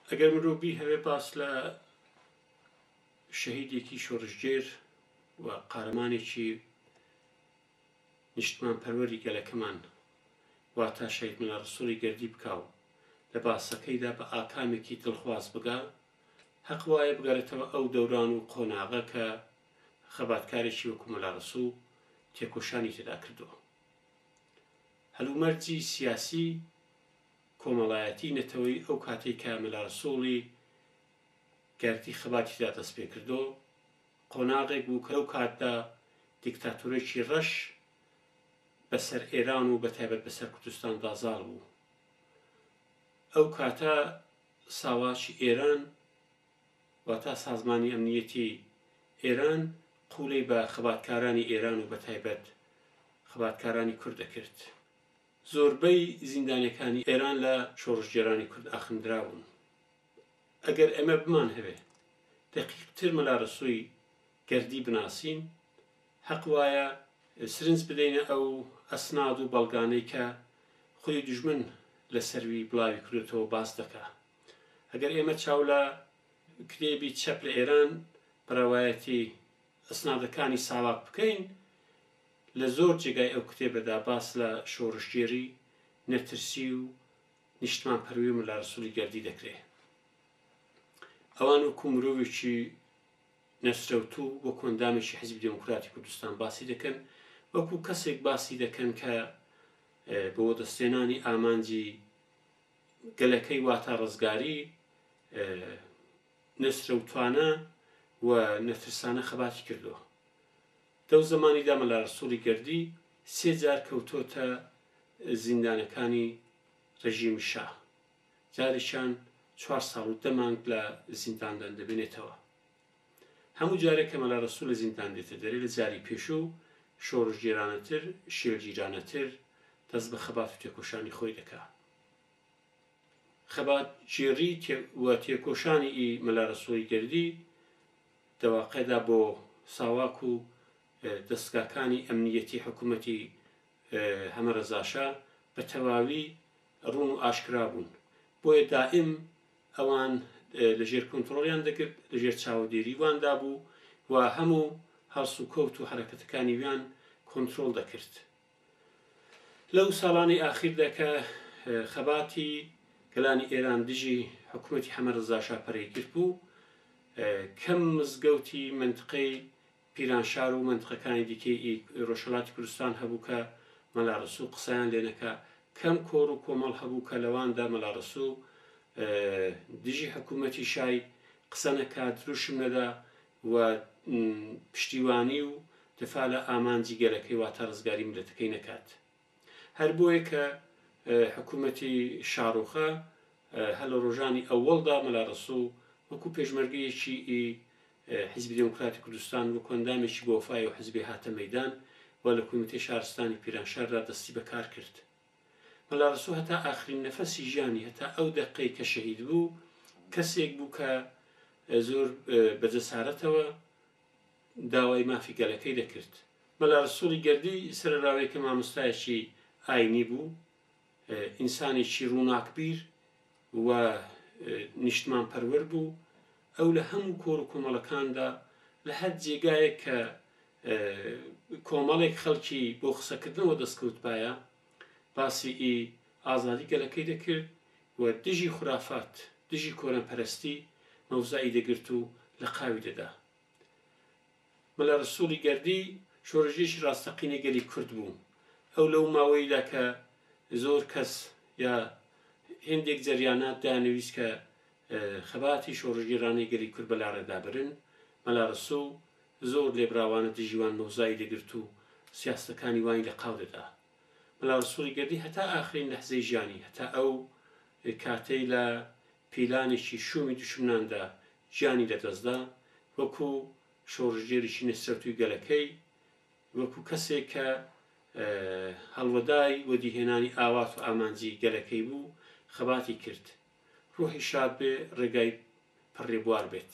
ئەگەر مرۆڤ بیهەوێ باس لە شەهیدێکی شۆڕشگێر و قارەمانێکی نیشتمان پەروەری گەلەکەمان واتا شەید ملا ڕسوڵی گردی بکاو لە باسەکەیدا بە ئاکامێکی دڵخواز بگا هەق وایە بگەڕێتەوە ئەو دەوران و قۆناغە کە خەباتکارێکی وەکو ملا ڕسوو تێکۆشانی تێدا کردووە هەلومەرجی سیاسی کۆمەڵایەتی نەتەوەیی ئەو کاتەی کە ملاسوڵی گردی خەباتی دا دەست پێ کردۆ قۆناغێک بوو کە لەو کاتدا دیکتاتۆرێکی ڕەش بە سەر ئێران و بە تایبەت بە سەر کوردستان دا زاڵ بوو ئەو کاتە ساواکی ئێران واتا سازمانی ئەمنیەتی ئێران قولەی بە خەباتکارانی ئێران و بە تایبەت خەباتکارانی کورد دەکرد. زۆربەی زیندانیەکانی ئێران لە شۆڕشگێرانی کورد ئاخندرابوون ئەگەر ئێمە بمان هەوێ دەقیق تر مەلا رەسووی گەردی بناسین هەق وایە سرنج بدەینە ئەو ئەسناد و بەڵگانەی کە خودی دژمن لە سەروی بڵاوی کردوتەوە باس دەکا ئەگەر ئێمە چاو لە کتێبی چەپ لە ئێران بەڕەوایەتی ئەسنادەکانی ساواک بکەین، لە زۆر جێگای ئەو کتێبەدا باس لە شۆڕشگێری، نەترسی و نیشتمانپەروەی و مەلا رەسوڵی گەردی دەکرێ. ئەوان وەکو مرۆڤێکی نەسرەوتوو، وەکو ئەندامێکی حیزبی دێموکراتی کوردستان باسی دەکەن، وەکو کەسێک باسی دەکەن کە بۆ وەدەستهێنانی ئامانجی گەلەکەی واتا رزگاری، نەچرەوتوانە و نەترسانە خەباتی کردووە. لەو زەمانیدا مەلا رەسوڵی گەردی سێ جار کەوتۆتە زیندانەکانی رژیمی شا، جارێکیان چوار ساڵ و دە مانگ لە زینداندان دەبێنێتەوە. هەموو جارێک کە مەلا رەسوڵ لە زیندان دێتە دەرێ لە جاری پێشوو شۆڕشگێرانەتر، شێلگیرانەتر دەست بە خەبات و تێکۆشانی خۆی دەکا. خەبات گێڕی و تێکۆشانی ئی مەلا رەسوڵی گردی دەواقعدا بۆ ساواک و دەستگاکانی ئەمنیەتی حکوومەتی هەمە رەزاشا بە تەواوی ڕوون و ئاشکرا بوون بۆیە دائم ئەوان لە ژێر کۆنتترۆلیان دەگرت لە ژێر چاوەدێری واندا بوو و هەموو هەڵس و کەوت و حرەکەتەکانی ویان کۆنتترۆل دەکرد لەو ساڵانەی ئاخیردا کە خەباتی گەلانی ئێران دژی حکوومەتی حەمە ڕزاشا پەرەیگرت بوو، کەم مزگەوتی مەنتقەی پیرانشار و مەنتقەکانی دیکەی ڕۆژهەڵاتی کوردستان هەبوو کە مەلا ڕەسوو قسەیان لێ نەکا، کەم کۆڕ و کۆمەڵ هەبوو کە لەواندا مەلا ڕەسوو دژی حکوومەتی شای قسە نەکا، دروشم نەدا، و پشتیوانی و دفاع لە ئامانجی گەلەکەی واتە ڕزگاری میللەتەکەی نەکات هەر بۆیە کە حکومەتی شاڕوخە هە لە ڕۆژانی ئەوەڵدا مەلا ڕسوو وەکو پێشمەرگەیەکی ئی حزبی دموکراتی کوردستان وەکو ئەندامێکی بۆفای و حزبی هاتە مەدان و لە کومیتەی شارستانی پیرانشاردا دەستی بەکار کرد مەلا ڕەسوو هەتا ئاخرین نەفەسی ژیانی هەتا ئەو دەقەی کە شەهید بوو کەسێک بوو کە زۆر بە جەسارەتەوە داوای مافی گەلەکەی دەکرد مەلا ڕسوڵی گردی سەرراوی کە مامۆستایەکی ئاینی بوو ئینسانێکی ڕووناکبیر و نیشتمان پەروەر بوو ئەو لە هەموو کۆڕ و کۆمەڵەکاندا لە هەر جێگایەک کە کۆمەڵێک خەڵکی بۆ قسەکردنەوە دەستکەوتبایە باسی ئازادی گەلەکەی دەکرد و دژی خورافات دژی کۆرەنپەرستی مەوزعی دەگرت و لە قاوی دەدا مەلا رەسوڵی گەردی شۆرەژێکی راستەقینەی گەلی کورد بوو، ئەو لەو ماوەیەیدا کە زۆر کەس یا هێندێک جەریانات دەیانەویست کە خەباتی شۆڕشگێرانەی گەلی کورد بە لاڕێدا برن، مەلا رەسوڵ زۆر لێبراوانە دژی وان مەوزای دەگرت و سیاسەتەکانی وانی لە قاو دەدا. مەلا رەسوڵی گەردی هەتا ئاخرین لەحزەی ژیانی، هەتا ئەو کاتەی لە پیلانێکی شوومی دوشمناندا گیانی لەدەستدا، وەکو شۆڕشگێریی نەسرەوتووی گەلەکەی، وەکو کەسێک کە هەڵوەدای وەدیهێنانی ئاوات و ئامانجی گەلەکەی بوو، خەباتی کرد. روحی شاد بێ، رێگای پڕ رێبوار بێت.